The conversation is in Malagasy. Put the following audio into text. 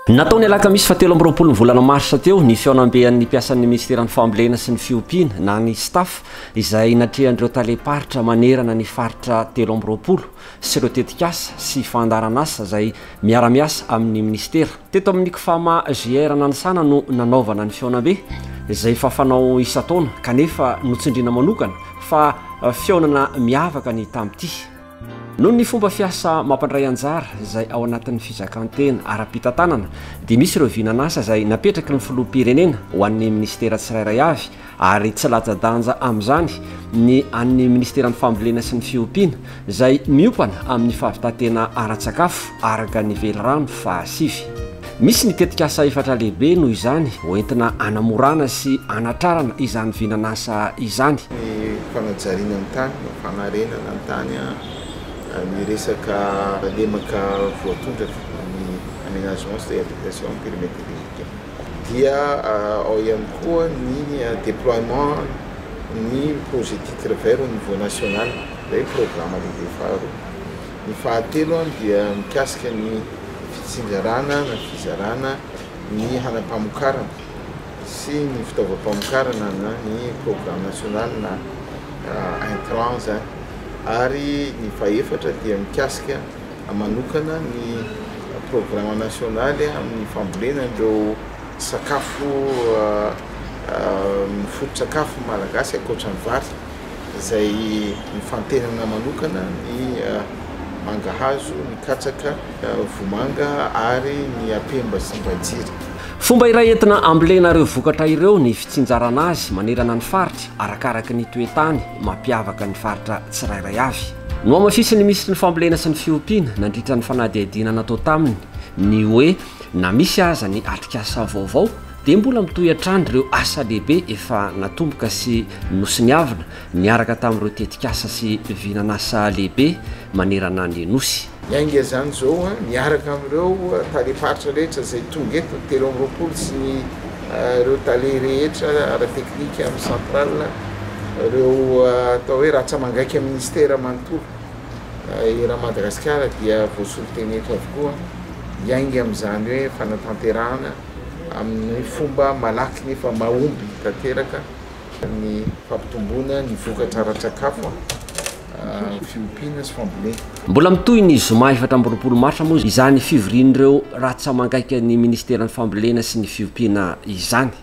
Natao ny alakamisy fa telo amby roapolo ny volana marsa teo ny fihaonambehan'ny mpiasan'ny ministeran'ny fambolena sy ny fiompiana na ny staff izay natrehan'ireo talem-paritra manerana ny faritra telo amby roapolo sy ireo tetikasa sy fandaharan'asa izay miara-miasa amin'ny minisitera. Teto amin'ny Cfama GR Nanisana no nanaovana ny fihaonambe, izay efa fanao isan-taona kanefa notsindriana manokana fa fihaonana miavaka ny tamin'ity, noho ny fomba fiasa mampandray anjara izay ao anatin'ny fizakan-tena ara-pitantanana dia misy ireo vinan'asa izay napetraky ny filoham-pirenena ho an'ny minisitera tsirairay avy ary tsy latsa-danja amin'izany ny an'ny Ministeran'ny Fambolena sy ny Fiompiana izay miompana amin'ny fahavitan-tena ara-tsakafo araka ny velirano fahasivy. Misy ny tetikasa efatra lehibe noho izany hoentina hanamorana sy hanatrarana izany vinan'asa izany. Ny fanajariana ny tany, na fanarenana ny tany, ny resaka lemaka voatondraka, ny aménagement sy réhabilitation en périméter végétaux. dia ao ihany koa ny déploiement ny projet titre vert au niveau national, izay programa lehibe faharoa. Ny fahatelo dia mikasika ny fitsinjarana na fizarana ny hanam-pamokarana sy ny fitaovam-pamokarana na ny programme national na intrants, ary ny fahefatra dia mikasika. manokana ny programa nasionaly amin'ny fambolena an'ireo sakafo amin'ny foto-tsakafo malagasy ankoatra ny vary izay mifantenana manokana ny mangahazo, ny katsaka, vomanga ary ny apemba sy ny vahitsiry. Fomba iray entina ambolena ireo vokatra ireo ny fitsinjarana azy manerana ny faritra arakaraky ny toe-tany mampiavaka ny faritra tsirairay avy. Nohamafisin'ny Minisitry ny Fambolena sy ny Fiompiana nandritra ny fanadihadiana natao taminy ny hoe na misy aza ny atrikasa vaovao dia mbola mitohy hatrany ireo asa lehibe efa natomboka sy nosoniavina niaraka tamin'ireo tetikasa sy vinan'asa lehibe manerana ny Nosy. Hiainga izany izao miaraka amin'ireo talem-paritra rehetra izay tonga eto, telo amby roapolo sy ny ireo tale rehetra ara-teknika amin'ny centrale, ireo atao hoe ratsa-mangaika ministera manontolo eran'i Madagasikara dia voasolo teny eto avokoa, hiainga amin'izany hoe fanatanterahana amin'ny fomba malaky nefa mahomby tanteraka ny fampitomboana ny vokatra ara-tsakafo. fiompiana sy fambolena. Mbola mitohy ny zoma efatra amby roapolo marsa moa izany fivorian'ireo rantsamangaikan'ny ministeran'ny Fambolena sy ny fiompiana izany.